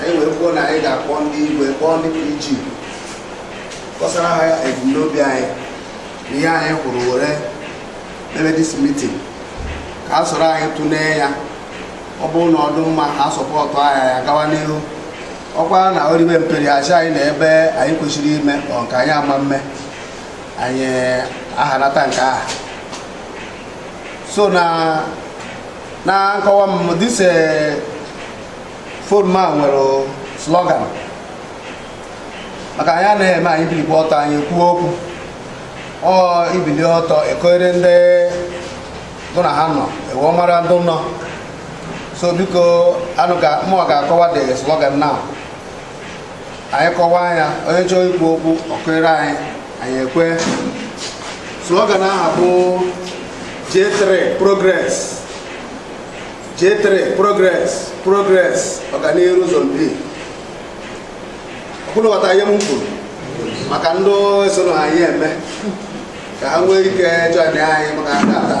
anyị wee kwuo na anyị ga-akpọ ndị igwe kpọọ ndị PG kọsara ha ya ebumnobi anyị na ihe anyị kwuru were mebe this meeting ka ha soro anyị tụlee ya ọ bụrụ na ọ dụ mma ha support anyị ya gawa n'ihu ọ kwa na o ribe mperi a sị anyị na ebe anyị kwesịrị ime or nke anyị ama mme anyị ahanata nke a so na na nkọwa m this eh, forum a nwere slogan maka anyị anaghị eme anyị bilikwa ọtọ anyị kwuo okwu or i bili ọtọ i kuere ndị dụ na ha nọ e wee mara ndị nọ so biko anụ ka mụ ga-akọwa the slogan now anyị kọwaa ya onye chọọ ikwu okwu o kuere anyị anyị ekwe slogan aha bụ J3 progress J3 progress progress ọganihu zone B ọ kwa unu ghọta ihe m kwuru maka ndị esoro anyị eme ka ha nwee ike join anyị maka ata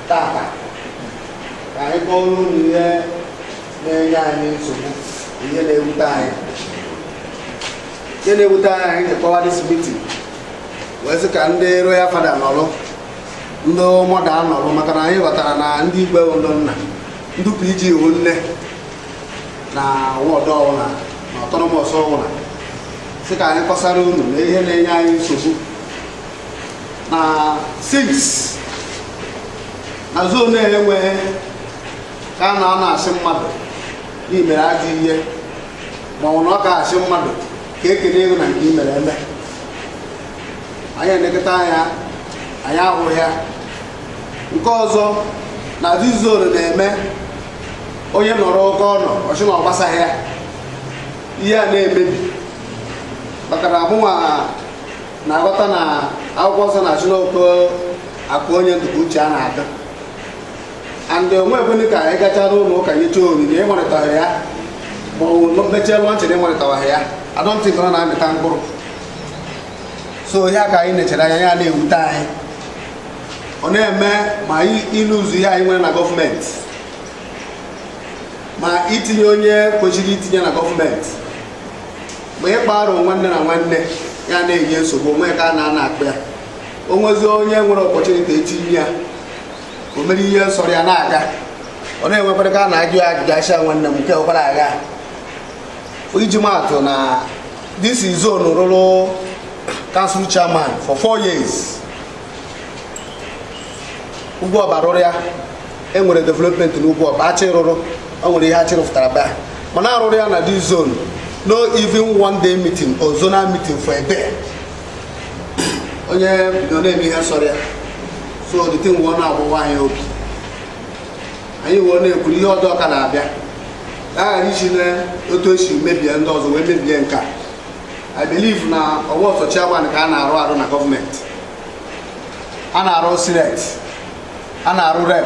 taata ka anyị kpọrọ unu ihe na-enye anyị nsogbu ihe na-ewute anyị ihe na-ewute anyị anyị ji kpọwa this meeting wee sị ka ndị royal father nọrọ ndị mother nọrọ maka na anyị ghọtara na ndị igwe bụ ndị nna ndị PG wụ nne na ward ọwụna na autonomous ọwụna sị ka anyị kọsara unu na ihe na-enye anyị nsogbu na six na zone enweghị ka a nọ a na-asị mmadụ na i mere ajọ ihe ma ọ wụ n'oke a sị mmadụ ka e kelee gị na nke i mere eme anyị elekọta anya anyị ahụghị ya nke ọzọ na this zone na-eme onye nọrọ oke ọ nọ ọ sị na ọ gbasaghị ya ihe a na-emebi maka na mụnwa na-aghọta na akwụkwọ nsọ na-asị na oke akụ onye dụ ka uche ya na-adị and o nwe ebụnị ka anyị gachara ụlọ ụka nyecha onyinye ịnwarịtaghị ya ma ọ bụ mechaa launching na ịnwarịtaghị ya I don't think ọ na-amịta mkpụrụ so ihe a ka anyị nechere anya ya na-ewute anyị ọ na-eme ma ịlụ ụzọ ihe anyị nwere na government ma itinye onye kwesịrị itinye na government mgbe ị gbara nwanne na nwanne ya na-enye nsogbu o nwe ka a na-ana akpa ya o nwezi onye nwere opportunity etinye ya o mere ihe nsọrọ ya na-aga ọ na-enwekwara ka a na-ajụ ya ajụjụ asha nwanne m nke ọkwara agha iji maa atụ na this zone rụrụ council chairman for four years Ugwuọba rụrụ ya e nwere development na Ugwuọba Achị rụrụ o nwere ihe Achị rụpụtara ba mana a rụrụ ya na this zone no even one day meeting or zonal meeting for a day onye bido na-eme ihe sọrọ ya so the thing wee na-agbawa anyị obi anyị wee na-ekwuru ihe ọdọ ka na-abịa a ghara isi na otu e si mebie ndị ọzọ wee mebie nke a i believe na ọwa sọ chairman ka a na-arụ arụ na gọọmenti a na-arụ senate a na-arụ rep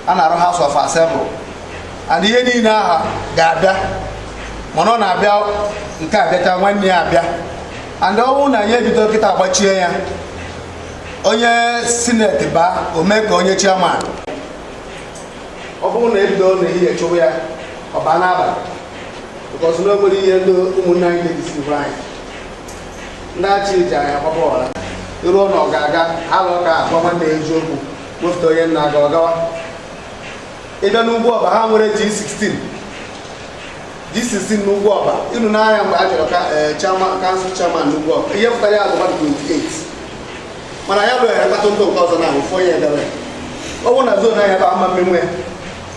a na-arụ house of assembly and ihe niile aha ga-abịa mana ọ na-abịa nke abịacha nwanne ya abịa and ọ bụrụ na anyị ebido kịta agbachie ya onye senate baa o mee ka onye chairman ọ bụrụ na ebido n'ehihie chụwa ya ọ baa n'abalị because na o nwere ihe ndị ụmụnne anyị na-edisi anyị ndị Achị ji anyị agbaba ọra iruo na ọ ga-aga alụ ka a gwa nwanne ya eziokwu wepụta onye na-aga ọ gawa ị bịa n'Ugwuọba ha nwere G16 G16 n'Ugwuọba ịnụ n'anya mgbe a chọrọ ka eh, chairman council chairman n'Ugwuọba ihe pụtara ya bụ mmadụ 28 mana ya lụghere mkpọtụ ndụ nke ọzọ na ụfọ ya edere ọ bụrụ na zone anyị a ebe ama mmenwe ya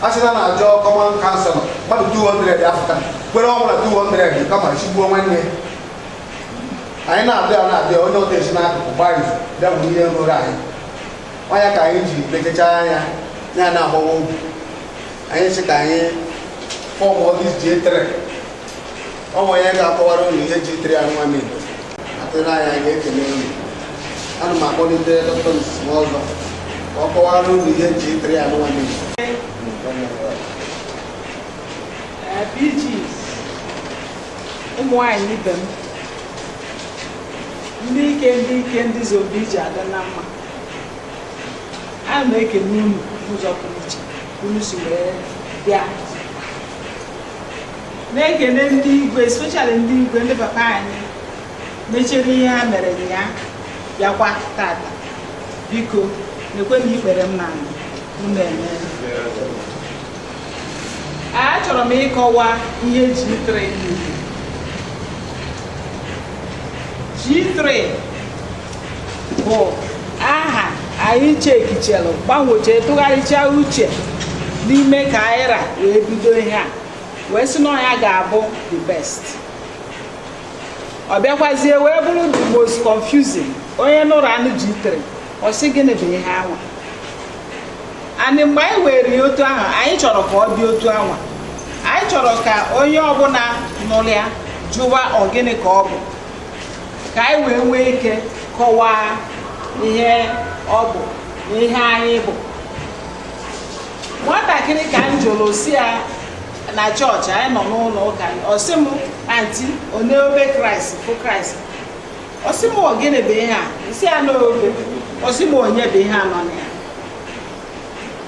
a sị na a na-azọ common council mmadụ 200 afụta kwere ọ bụla 200 kama chigbuo nwanne ya anyị na-abịa na-abịa onye ọta esi n'akụkụ gbaghị bịa bụ ihe rụrụ anyị ọnya ka anyị ji lekecha anya ya na-agbawa obi anyị sị ka anyị form this G3 o nwere onye ga-akọwara unu ihe G3 ya nwa m igbo atụrụ anya anyị ekele unu ana m akpọlite dọkịta Nsima ọzọ ka ọ kọwara unu ihe G3 ya nwa m igbo PGs ụmụ nwaanyị ibe m ndị ike ndị ike ndị zobi iji adị na mma ana m ekene unu n'ụzọ pụrụ iche ka unu si wee bịa na-ekene ndị igwe especially ndị igwe ndị papa anyị mechere ihe ha mere ya bịakwa tata biko na-ekwe na ikpere m n'anị unu emee achọrọ m ịkọwa ihe G3 G3 bụ aha anyị chekịchalụ gbanwechaa tụgharịchaa uche n'ime ka anyị ra wee bido ihe a wee sị na ọ ya ga-abụ the best ọ bịakwazie wee bụrụ the most confusing onye nụrụ anụ G3 ọ sị gịnị bụ ihe anwa and mgbe anyị were ya otu ahụ anyị chọrọ ka ọ dị otu anwa anyị chọrọ ka onye ọbụla nụrụ ya jụwa ọ gịnị ka ọ bụ ka anyị wee nwee ike kọwaa ihe ọ bụ na ihe anyị bụ nwatakịrị ka m jụrụ sị ya na chọọchị anyị nọ n'ụlọ ụka ọ sị m anti onye obe Kraịst bụ Kraịst ọ sị m ọ gịnị bụ ihe a m sị ya n'obe ọ sị m onye bụ ihe a nọ na ya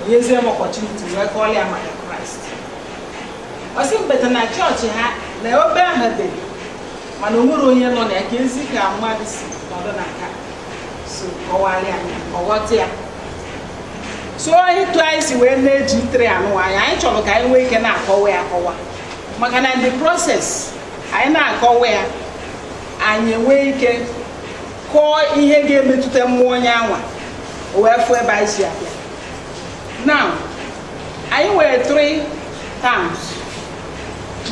o nyezie m opportunity wee kọọla ya maka Kraịst ọ sị m but na chọọchị ha na obe ahụ dị mana o nwerọ onye nọ na ya kezi ka mmadụ si nọdụ na nke a so kọwara ya ọ ghọta ya so etu anyị si wee na G3 anụwa anyị anyị chọrọ ka anyị nwee ike na-akọwa ya akọwa maka na in the process anyị na-akọwa ya anyị enwee ike kọọ ihe ga-emetụta mmụọ onye anwa o wee fụ ebe anyị si abịa na anyị nwere three towns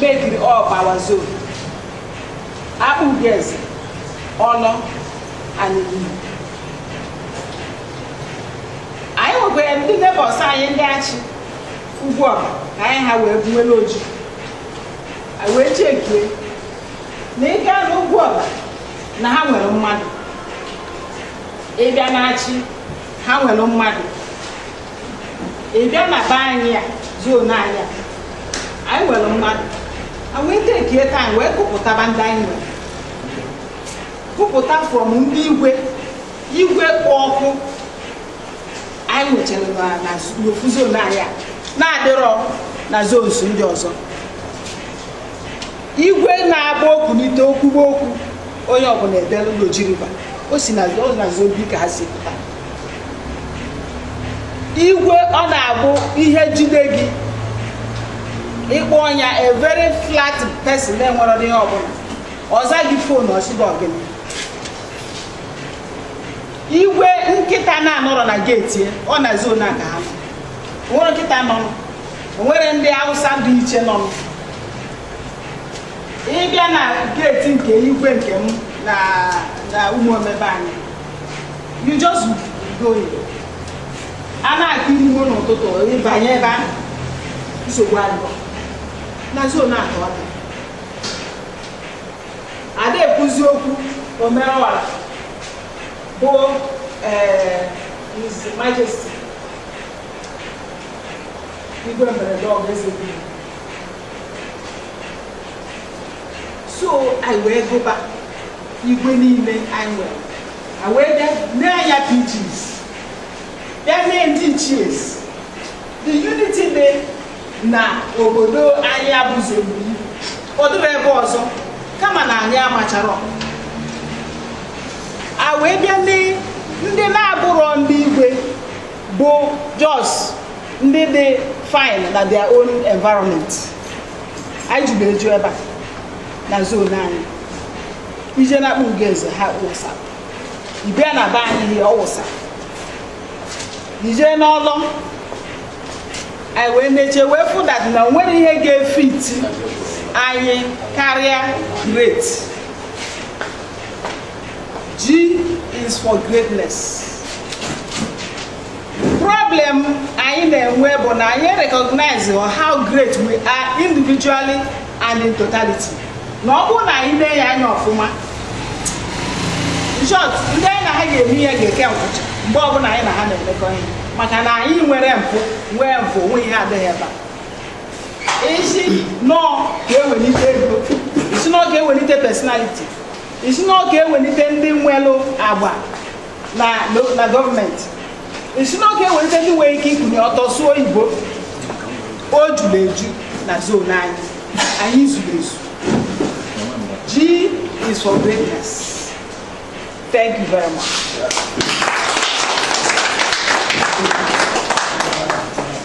mekiri up our zone Akpugoeze Awlaw and Inyi anyị nwekwa ndị neighbours anyị ndị Achi Ugwuoba ka anyị ha wee buwere Oji wee chekie na ị gaa n'Ugwuoba na ha nwere mmadụ ị bịa n'Achi ha nwere mmadụ ị bịa na be anyị a zone anyị a anyị nwere mmadụ anyị wee tekie time wee gụpụtaba ndị anyị nwere gụpụta from ndị igwe igwe kpụ ọkụ anyị nwechara na- na n'ofu zone anyị a na-adịrọ na zones ndị ọzọ igwe na-agba o kunite o kwuwe okwu onye ọbụla edelu n'Oji River o si na ọ na zone B ka ha si pụta igwe ọ na-abụ ihe jide gị ị kpọọ nya a very flat person na-enwere ihe ọbụla ọ zaa gị phone ọ sịba ọ gịnị igwe nkịta na-anọrọ na gate ọ na zone a ka ha nọ. nwere nkịta nọ e nwere ndị Hausa dị iche nọ ị bịa na geeti nke igwe nke m na Ụmụome be anyị you just go a na-akụrụ igwe n'ụtụtụ ị banye ebe ahụ nsogbu adịghị na zone atọ a da ekwuzi okwu omerọwara bụ eh, His Majesty igwe mberede ọgụ eze biri so anyị wee gụba igwe niile anyị nwere anyị wee bịa nee anya PGs bịa nee ndị ichies the unity dị na obodo anyị abụzi ogbiri ọ dịrị ebe ọzọ kama na anyị amachara a wee bịa nee ndị na-abụrọ ndị igwe bụ just ndị dị fine na their own environment anyị juru eju ebe a na zone anyị i je na Akpugoeze ha wụsa ị bịa na be anyị Ihe ọ wụsa i je n'Ọlọ anyị wee na-eche wee fụ that na o nwere ihe ga-efiti anyị karịa great G is for greatness. Problem anyị na-enwe bụ na anyị recognize how great we are individually and in totality. Na ọ bụrụ na anyị na-ene anya ọfụma, in short ndị anyị na ha ga-eme ihe ga-eke nkwụcha mgbe ọbụla anyị na ha na-emekọ ihe maka na anyị nwere mpụ nwee mpụ o nwee ihe adịghị ebe a. Ị sị na ọ ka e welite ego, ị sị na ọ ka e welite personality ị sị na ọ ka e welite ndị nwelụ agba na na- na gọọmenti ị sị na ọ ka e welite ndị nwere ike ikunye ọtọ sụọ oyibo o juru eju na zone anyị anyị zuru ezu G is for greatness thank you very much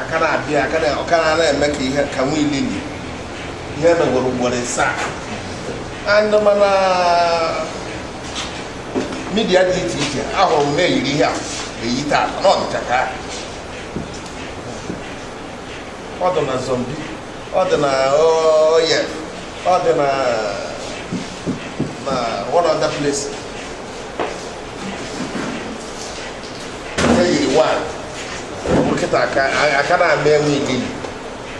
aka na-abịa aka na ọka na na-eme ka ihe ka nwa ilili ihe megwara ugboro ịsaa and ma na media dị iche iche ahụrụ m na-eyiri ihe a eyi taa na ọ dịcha ka ọ dị na zombi ọ dị na oye ọ dị na na one other place nkịta aka na-ama enwe igili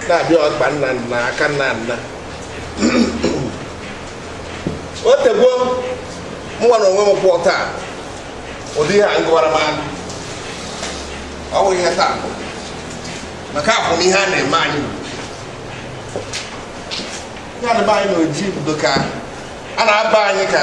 na-abịa ọkpa nna nna aka nna nna o tego mụnwa na onwe m kwụọ taa ụdị ihe a ngụwara m anụ ọ bụ ihe taa maka akwụ m ihe a na-eme anyị ya na be anyị na Oji bido ka a na-aba anyị ka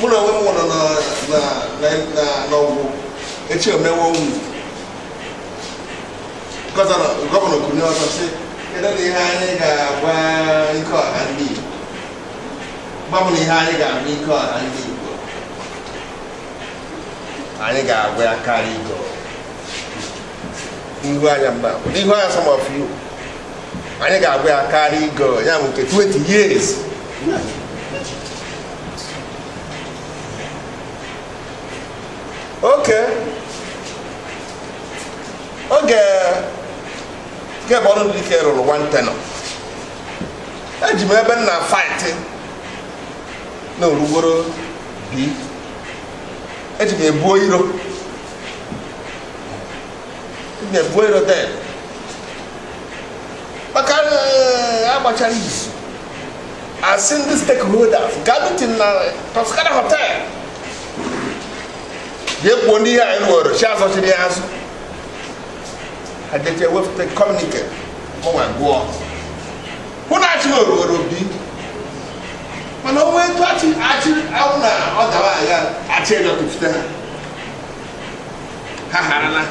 mụ na onwe m nọ na- na- na- na- n'Ọgwụ echi emewe unu gọvanọ gọvanọ kunye ọzọ sị kedu na ihe anyị ga-agwa ike ọha ndị Igbo gwa m na ihe anyị ga-agwa ike ọha ndị Igbo anyị ga-agwa ya karịa igo ihu anya mba ihu anya some of you anyị ga-agwa ya karịa igo ya bụ nke 20 years oke oge nke bụ ọrụ dike rụrụ one tenure eji m ebe m na fight na orugboro bi eji m ebuo iro maka eh, agbachara izu a sị ndị stakeholders gaa meeting na Toscana hotel jee kwuo ndị ihe anyị nwere chi azọchiri ya azụ ha jeche wepụta communique mụnwa gụọ hụ na Achi nwere owere obi mana o nwe etu Achi Achi awụ na ọ dara agha Achi ejọtụfute ha ha harala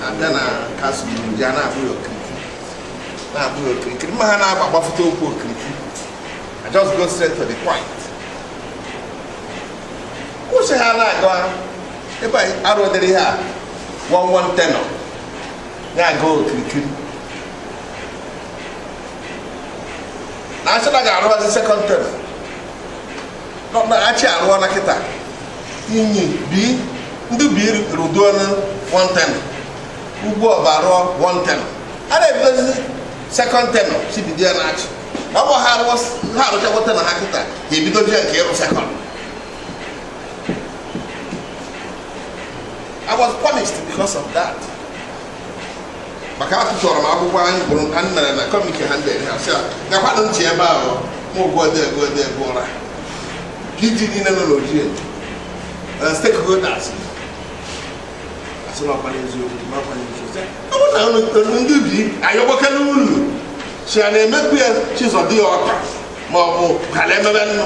abịa na council ya na-abụ ya okirikiri na-abụ ya okirikiri ma ha na-agba gbafụta okwu okirikiri I just go straight to the point kwuo sị ha na-aga ebe a arụdịrị ha one one tenure na-aga okirikiri na asị na ga-arụbazi second tenure Achi arụọla kịta Inyi bi ndị bi rụduola one tenure Ugwuoba rụọ one tenure a na-ebidozi second tenure si bido ya n'Achi ọ bụ ha arụchakwa tenure ha kịta ga-ebidozi ya nke ịrụ second I was punished because of that. maka atụtụrụ m akwụkwọ anyị bụrụ ka m mere na committee ha ndị ha sị gakwanụ ntị ebe ahụ ma ụgwọ odego odego ụra ndị niile nọ n'Oji stakeholders asị na ọkwa n'eziokwu ma ọkwa n'eziokwu ọ bụ na unu ndị be anyị ọgbakọrọ unu si ya na-emekwu ya chizọ dị ya ọka ma ọ bụ kala emebe nnụ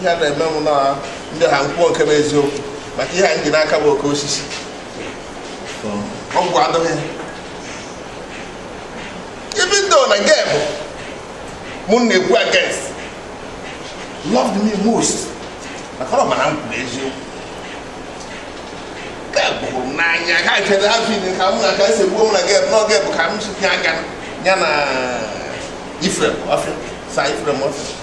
ihe a na-eme m na ndị ha nkwuo nke bụ eziokwu maka ihe anyị ji n'aka bụ oke osisi ọgwụ adịghị ibi ndị na nke bụ mụ na-ekwu against loved me most maka ọ mara m kwuru eziokwu nke bụrụ m n'anya ka chere ha bi ka m na ka esi gbuo m na gị n'oge bụ ka m si aka ya na ifrem ọfịa sa ifrem ọfịa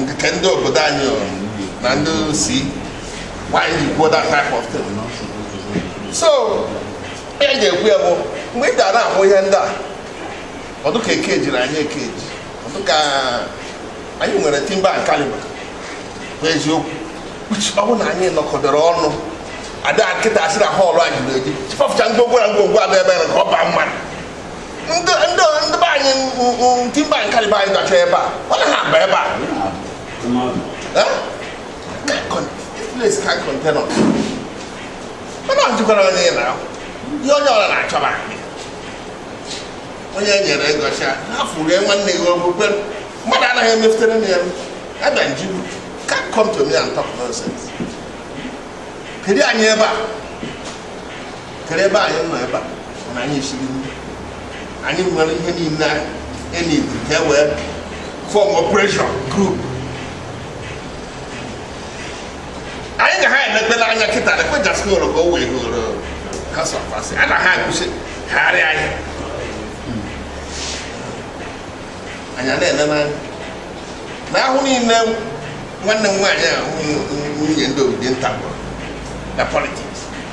nke ndị obodo anyị na ndị si why you go that type of thing so ihe e ji ekwu ya bụ mgbe ị ga na-ahụ ihe ndị a ọdụ ka eke jiri anyị eke ji ọdụ ka anyị nwere timber and caliber bụ eziokwu ọ bụ na anyị nọkọdoro ọnụ ada kịta asị na hall a juru eju chịpọpụcha ngwongwo na ngwongwo a dị ebe a ka ọ baa mmadụ ndị be anyị timber and caliber anyị dọcha ebe a ọ na ha aba ebe a this place can't contain us mana ọjụkwara onye ị na-ahụ ihe onye ọla na-achọba onye e nyere ego cha ha fụrie nwanne gị ọgwụ kwe mmadụ anaghị emefutere m ya abịa njibu can't come to me and talk nonsense kedu anyị ebe a kere ebe anyị nọ ebe a na anyị siri nri anyị nwere ihe niile enyi ka e wee form operation group anyị ga ha emepela anya kịta na kwejaska oro ka o wee goro house of assembly ana ha agụsị harị anyị anyị a na-eme n'anya na ahụ niile nwanne m nwaanyị a nwunye ndị obodo nta gwụrụ na politics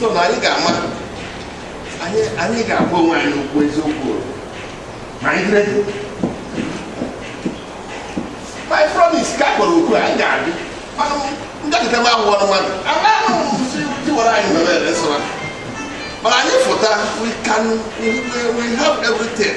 so na anyị ga-ama anyị ga-agwa onwe anyị okwu eziokwu ma anyị dịrị my promise ka kpọrọ okwu anyị ga-adị mana nda kịta m ahụwara mmadụ anaghị mụzi tiwara anyị nọ na-ere nsọra mana anyị fụta we can we, we have everything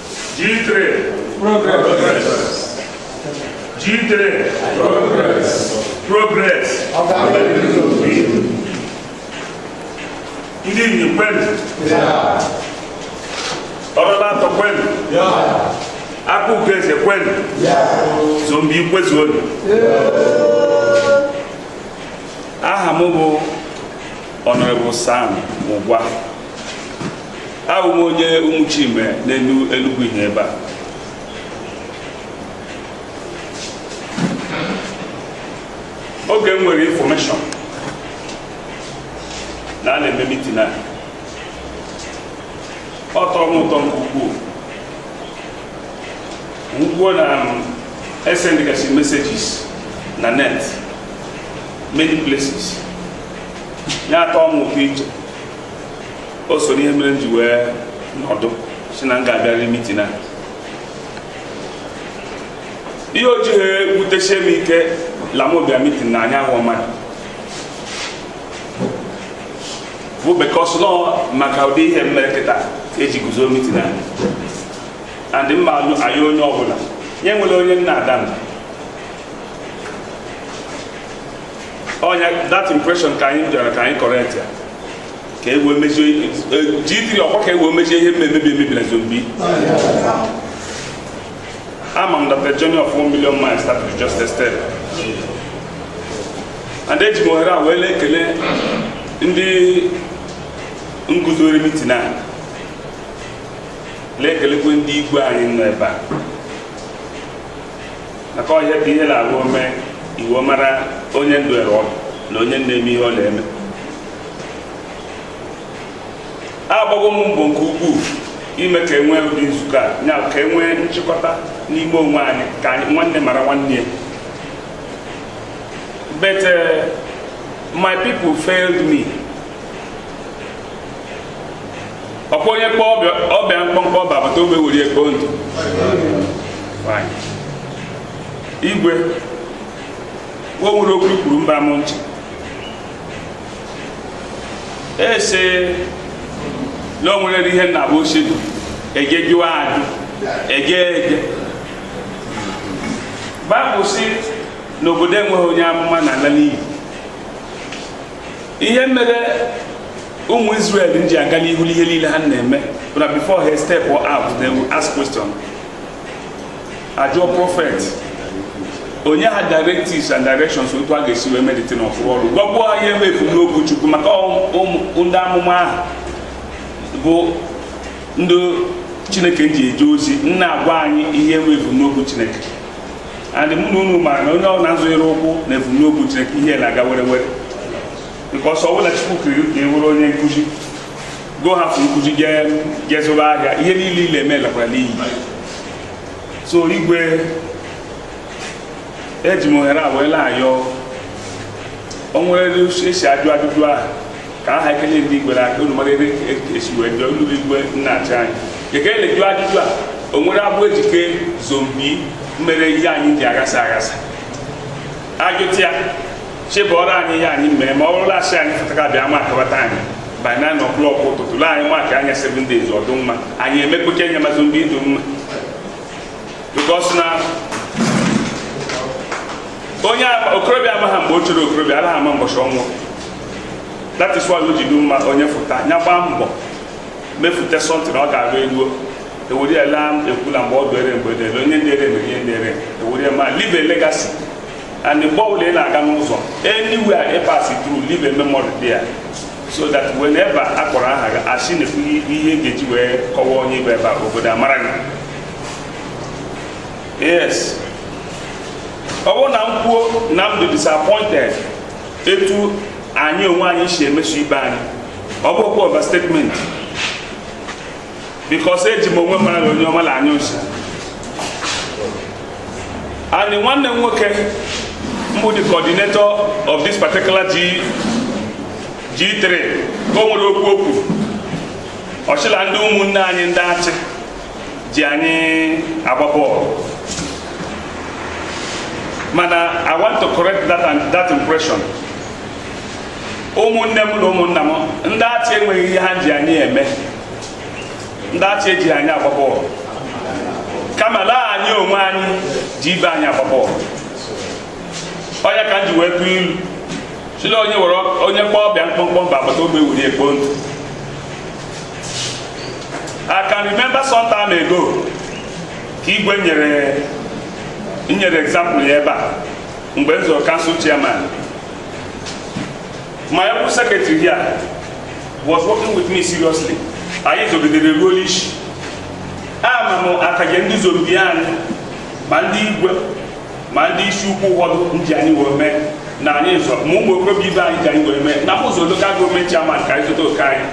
G3 Progress G3 Progress Progress Ndị Enyi kwenu Ọrụla atọ kwenu akụ nke eze kwenu Izombe kwezuonu aha m bụ Honorable Sam Mugwa abụ m onye Umuchime n'elu Enugu Ihe ebe a oge m nwere infọmeshọn na a na-eme mitin a ọ tọrọ m ụtọ nke ukwuu m hụkwuo na esendịgasị messages na net many places ya atọ m ụtọ iche o so n'ihe mere m ji wee nọdụ sị na m ga-abịarịrị mitin a ihe o jighị wutesie m ike la m bịa mitin na anya ahụ mmadụ bụ because na ọ maka ụdị ihe mere kịta eji guzo mitin a and m ma anyị onye ọbụla nye nwere onye na-ada mba ọ nya that impression ka anyị bịara ka anyị correct ya ka e wee mezie jitiri ọkwa ka e wee mezie ihe mmemebi emebi na zombi ama m that a journey of 1 million miles start with just a step and eji m ohere a wee na-ekele ndị nguzori mitin a na-ekelekwe ndị igwe anyị nọ ebe a maka ọ ya bụ ihe na-arụ ome e wee mara onye nọdụrụ ọdụ na onye na-eme ihe ọ na-eme agbago m mbọ nke ukwuu ime ka enwee ụdị nzukọ a ya ka enwee nchịkọta n'ime onwe anyị ka anyị nwanne mara nwanne ya but uh, my people failed me ọkwa onye kpọ ọba ya mkpọmkpọ ọba agbata obi ewere ekpo ntụ igwe o nwere okwu i kwuru mba m ntị ese na o nwere ihe na-abụ ochie dị eje jụwa ajụ eje eje Baịbụl sị na obodo enweghị onye amụma na-ala n'iyi ihe mere ụmụ Israel ji aga n'ihu n'ihe niile ha na-eme bụ na before he step out they will ask question ajụọ prophet o nye ha directives and directions otu a ga-esi wee medite na ọfụrụ ọrụ gwakwuo ha ihe bụ ebumnobi Chukwu maka ndị amụma ahụ bụ ndị Chineke ji eje ozi na-agwa anyị ihe bụ ebumnobi Chineke and mụ na unu maara na onye ọbụla zọnyere ụkwụ na ebumnobi Chineke ihe na-aga werewere because ọ bụla Chukwu kere ka ọ wụrụ onye nkụzi go hapụ nkụzi jee zụba ahịa ihe niile ọ la-eme lakwara n'iyi so igwe eji m ohere a wee na-ayọ o nwere esi ajụ ajụjụ ahụ ka aha ekele ndị igwe aka unu mara ebe esi wee jụọ unu igwe na-achị anyị ekele jụọ ajụjụ a o nwere agbụ e ji kee zone B mere ihe anyị ji aghasa aghasa ajụta ya chebọrọ anyị ihe anyị mee ma ọ bụrụ la asị anyị fụtaka bịa ma akabata anyị by 9 o'clock ụtụtụ lee anyị maka anya 7 days ọ dụ mma anyị emekpeke nye ma zone B dụ mma because na onye a- okorobịa amaghị mgbe o chere okorobịa anaghị ama mbọchị ọnwụ that is why o ji dị mma onye fụta ya gbaa mbọ mefute something na ọ ga-arụ eluo ewere ya laa ekwula mgbe ọ dụere mgbe dere onye dere mere ihe dere ewere ya ma leave a legacy and mgbe ọbụla ị na-aga n'ụzọ anywhere ị pass through leave a memory there so that whenever a kpọrọ aha gị asị na ihe e ga-eji wee kọwaa onye bụ ebe a obodo amara gị yes ọ bụrụ na m kwuo na m dị disappointed etu anyị onwe anyị si emeso ibe anyị ọ bụkwa overstatement because eji m onwe mara na onye ọma na-anyụ nsi and nwanne m nwoke mbụ the coordinator of this particular G G3 ka o nwere okwu o kwu ọ sị la ndị ụmụnne anyị ndị achị ji anyị agba bọọlụ mana I want to correct that, that impression ụmụnne m na ụmụnna m ndị achị enweghị ihe ha ji anyị eme ndị achị ejighị anyị agba bọọlụ kama laa anyị onwe anyị ji ibe anyị agba bọọlụ ọ ya ka m ji wee tụọ ilu sị la onye were onye kpọọ ọba ya mkpọmkpọ ọba agbata obi ewuru ya kpoo ntụ I can remember some time ago ka igwe nyere nyere example ya ebe a mgbe m zọrọ council chairman my able secretary here was working with me seriously anyị zọgidere ruo n'isi ama m akaje ndị zone B anyị ma ndị igwe ma ndị isi ukwu ụfọdụ ji anyị wee mee na anyị zọ ma ụmụ okorobịa ibe anyị ji anyị wee mee na-azọ local government chairman ka anyị zọta oke anyị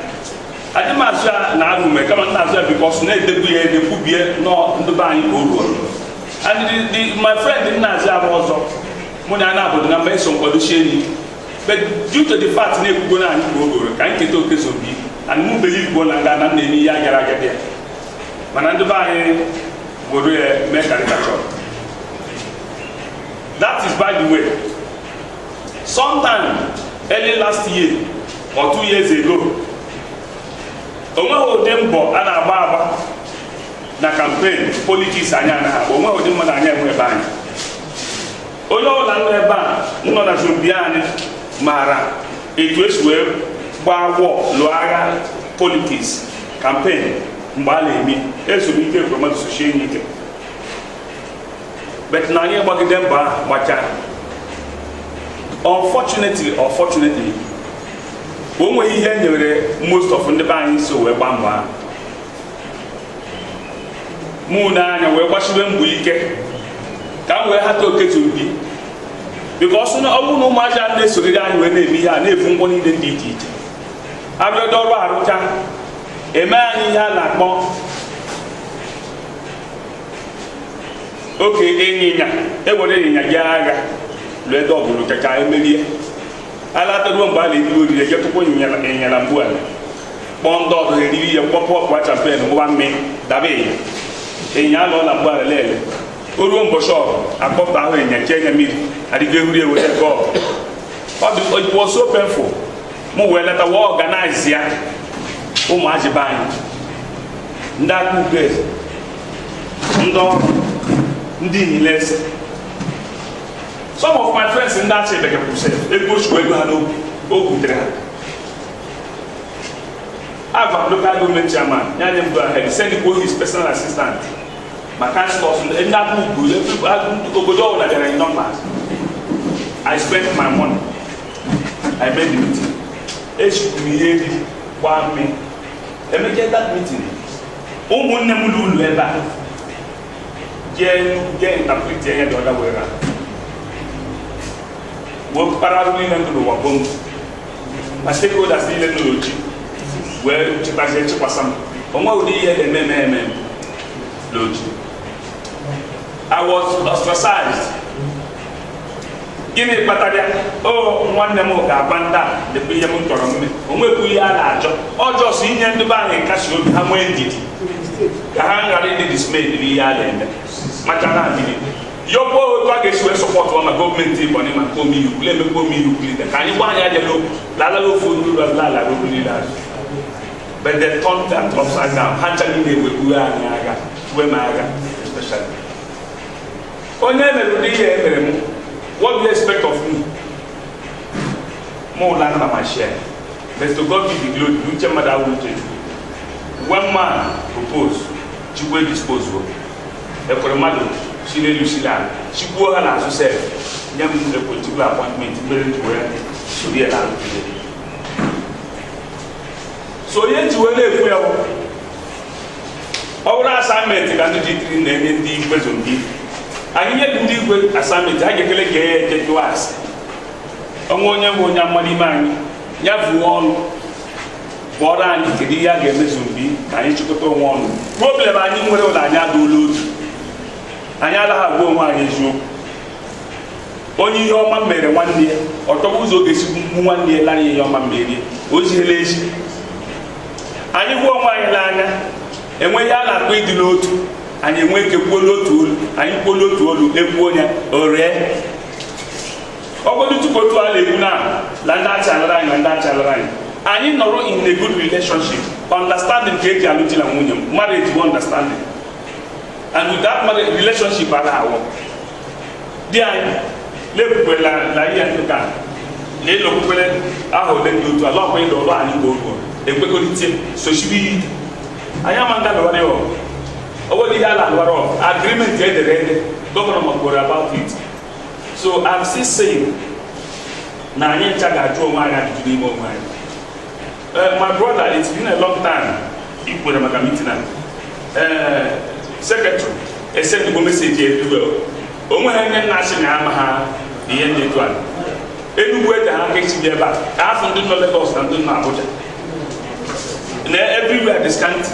anyị ma azọ ya na agụme kama na-azọ ya because na-edegbu ya ede kwubie nọ ndụbe anyị ka o ruo and the, the, my friend na-azọ abụ ọzọ mụ na ana obodo na mba eso nkwadochie enyi but due to the fact na-ekwugo na anyị bụ ogoro ka anyị keta oke zobi and mụ believe na nga na m na-eme ihe agara aga bịa mana ndị be anyị were ya mee caricature that is by the way sometime early last year or two years ago o nweghị ụdị mbọ a na-agba agba na campaign politics anyị anaghị agba o nwe ụdị mmadụ anyị enwe be anyị onye ọbụla nọ ebe a nọ na zone be anyị maara etu esi wee gbaa gwọ lụọ agha politics campaign mgbe a na-eme eso Ike Ekweremadu sochie nya ike but na anyị gbagide mbọ ahụ gbachaa unfortunately unfortunately o nweghị ihe e nyere most of ndị be anyị so wee gbaa mbọ ahụ mụ na anya wee gbasiwe mbọ ike ka m wee hata oketu mbi because na ọ bụrụ na ụmụazị a na-esogide anyị wee na-eme ihe a na-efu ngwa niile dị iche iche arụgide ọrụ arụcha eme anyị ihe a na-akpọ oke ịnyịnya e were ịnyịnya jee agha lụgide ọgụ lụchachaa emerie alataruo mgbe a na-ebido oriri jetụkwa ịnyịnya na mgbu ala kpọọ ndị ọzọ eriri ihe kpọpụkwa champagne ngwa mme daba ịnyịnya anọ na mgbe alele o ruo mbọchị ọgụ akpọpụta ahụ ịnyịnya chee nya mmiri adịgo ehuri ewere ego it was so painful mụ wee later wee organize ya ụmụazị be anyị ndị aka ube ndị ọrụ ndị niile ese some of my friends ndị Achị bekepụsị ego chukwu ego ha n'obi o butere ha Agwa local government chairman, nya enye m go ahead, send his personal assistant. My council of the obodo ọbụla bịara in numbers. I spent my money. I made the meeting. Echukwu m ihe ebi gbaa mme. Emechaa that meeting, ụmụnne m ụlọ ụlọ ebe a jee jee interpret ya the other way round. Wepụtara niile ndụ n'ụwa gbom. ma stakeholders niile nọ n'Oji wee chịkwazie chịkwasa m o nwe ụdị ihe a na-eme eme eme m n'Oji I was ostracized gịnị kpatara ya ọ nwanne m ga-agwa ndị a dịkwa ihe m chọrọ mme o nwekwu ihe a na-achọ ọzọ sọ inye ndị be anyị nkasi obi ha nwee ndidi ka ha ghara ịdị dismayed n'ihe a na-eme maka na ndidi yọkwa otu a ga-esi wee sọpọtụ ma gọọmenti Ebonyi ma nke omeiwu kwule emekwa omeiwu kwulite ka anyị gwa anyị aja n'okwu lalala ofu ndị ụlọ ala ala okwu niile azụ but they turned that upside down ha ncha niile ewekpuwe anyị agha tuwe m agha especially onye emere ụdị ihe emere m what do you expect of me mụ ụla nna ma share but to God be the glory uche mmadụ awụ uche chukwu when man propose chukwu edispose o ekwere mmadụ si n'elu si n'ala chigbuo ha n'azụ sef nye m a particular appointment mere njiwe soro ya n'ala so onye njiwe na-ekwu ya bụ ọ bụrụ assignment ka ndị ji tiri na-enye ndị igwe zone B anyị nye ndị igwe assignment ha ga-ekele ka ya eje jụọ ase ọnwa onye bụ onye amara ime anyị ya vuo ọnụ bụọrọ anyị kedu ihe a ga-eme zone B ka anyị chịkọta onwe ọnụ problem anyị nwere wụ na anyị adụla otu anyị anaghị agwa onwe anyị eziokwu onye ihe ọma mere nwanne ya ọtọgbu ụzọ ọ ga-esi mgbu nwanne ya lanye ihe ọma merie o ziela ezi anyị hụ onwe anyị n'anya enwee ihe a na-akpọ ịdị n'otu anyị enwe ike kwuo n'otu olu anyị kwuo n'otu olu ekwuo ya o ree ọgọdụ tupu otu a na-ekwu na la ndị Achị alụrụ anyị na ndị Achị alụrụ anyị anyị nọrọ in a good relationship understanding ka eji alụ di na nwunye m marriage bụ understanding and with that marriage relationship a na-awọ di anyị na-ekwukwela na ihe nkịta na ịlọkwukwele aha ole dị otu ala ọkwa ịlụ ọrụ anyị mgbe ogo ekwekọrịta sochibi ihe ike anyị ama nga lụwara ya ọgụ ọ wụghị ihe a na-alụwara ọgụ agreement edere ede gọvanọ makwara about it so I'm still saying na anyị ncha ga-ajụ onwe anyị ajụjụ n'ime onwe anyị eh, my brother it's been a long time ị kwere maka meeting a eh, secretary esendịgo message everywhere o nweghị onye nna achị na ama ha ihe ndị etu a Enugwu ede ha ga-esi bịa ebe a ka afọ ndị nọ Lagos na ndị nọ Abuja na everywhere dị scanty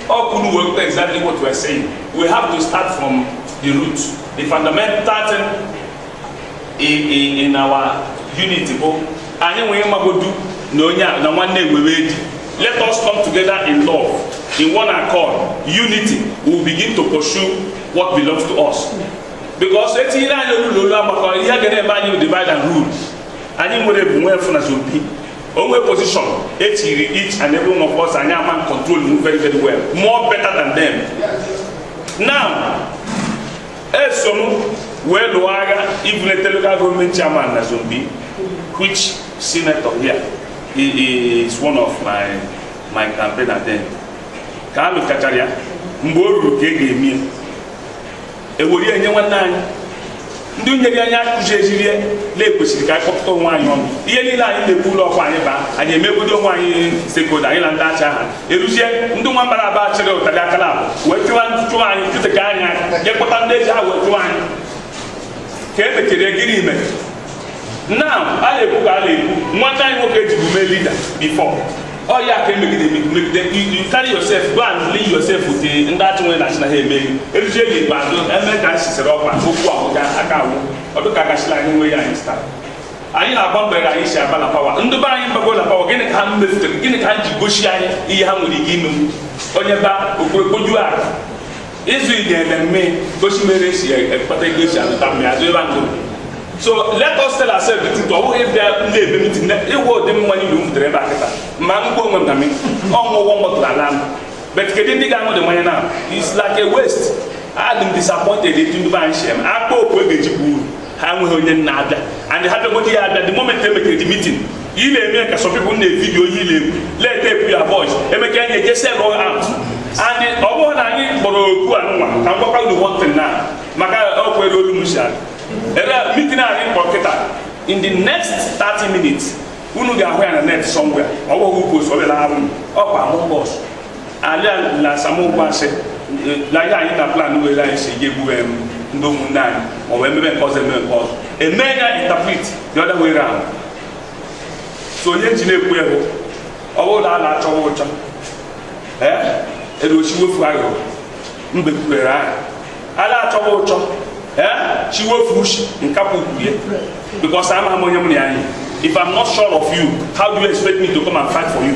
all could work exactly what we are saying. We have to start from the root. The fundamental thing in, in, in our unity bụ anyị nwere mmagodu na onye a na nwanne ewere eji let us come together in love in one accord unity we will begin to pursue what belongs to us because etinyere anyị olu na olu agbakọ ihe ga na-eme anyị divide and rule anyị nwere bụ nwe efu na zone B o nwe position etiri each and every one of us anyị ama control very very well more better than them now eso m wee lụọ agha ibulete local government chairman na zone B which senator here is one of my campaign attendant ka a lụchachara ya mgbe o ruru ka e ga-eme ya ewere ya nye nwanne anyị ndị nyere anyị akụzi ezirie na e kwesịrị ka anyị kpọkọta onwe anyị ọnụ ihe niile anyị na-ekwu ụlọ ọkwa anyị baa anyị emegodo onwe anyị sekodo anyị na ndị acha aha eruzie ndị nwa mbịara abịa chịrị ụtarị aka na wee chụwa chụwa anyị chụteka anyị eje kpọta ndị eji ha wee chụwa anyị ka e mekere gịnị ime now a na-ekwu ka a na-ekwu nwata anyị nwoke e jibu mee leader before ọ ya ka emegide megide you carry yourself go and ally yourself with ndị achị wee na-asị na ha emeghị eruzie n'ikpeazụ eme ka anyị sisere ọkwa okwu ahụ ga aka awụ ọdụ ka gachila anyị nwe ya anyị start anyị na-agba mgbe anyị si aba na power ndị be anyị abago na power gịnị ka ha mefutere gịnị ka ha ji gosi anyị ihe ha nwere ike ime onye ba okpokpoju ala ịzụ ide ememme gosi mere esi ekpata ego esi azụta mmiri azụ ebe ndụ so let us tell ourselves the truth ọ bụghị bịa na-eme meeting ịgwa ụdị mmanya niile m butere ebe a kịta ma m gbuo onwe m na mmiri ọṅụ ụgwọ mgbọtụrụ ala m but kedu ndị ga-aṅụdị mmanya na it's like a waste adị m disappointed etu ndị be anyị si eme a kpọọ oku e ga-eji bụ uru ha enweghị onye na-abịa and ha bịagodi ya abịa the moment emekere the meeting ị na-eme ka some people na-evideo ihe ile e kwule tepu ya voice emeka ya na-eje sell out and ọ bụrụ na anyị kpọrọ oku a nwa ka m gwakwa unu one thing now maka ọkwa elu olu m si ala ebe meeting anyị kpọrọ kịta in the next 30 minutes unu ga-ahụ ya na net somewhere ọ bụghị ukwu osọbịa na arụ ọkwa amụ bọs ala na asamokwu asị laga anyị na plan were anyị si ga-egbube m ndị ụmụnne anyị ma ọ bụ emebe nke ọzọ emebe nke ọzọ eme ya interpret the other way round so onye ji na-ekwu ya bụ ọ bụrụ na a na-achọwa ụchọ ee edochi wefu aghụghọ mbe kwurere ahụ a na-achọwa ụchọ ee chiwefu ushi nkapụ kwuye because ama m onye m na ya yị if i'm not sure of you how do you expect me to come and fight for you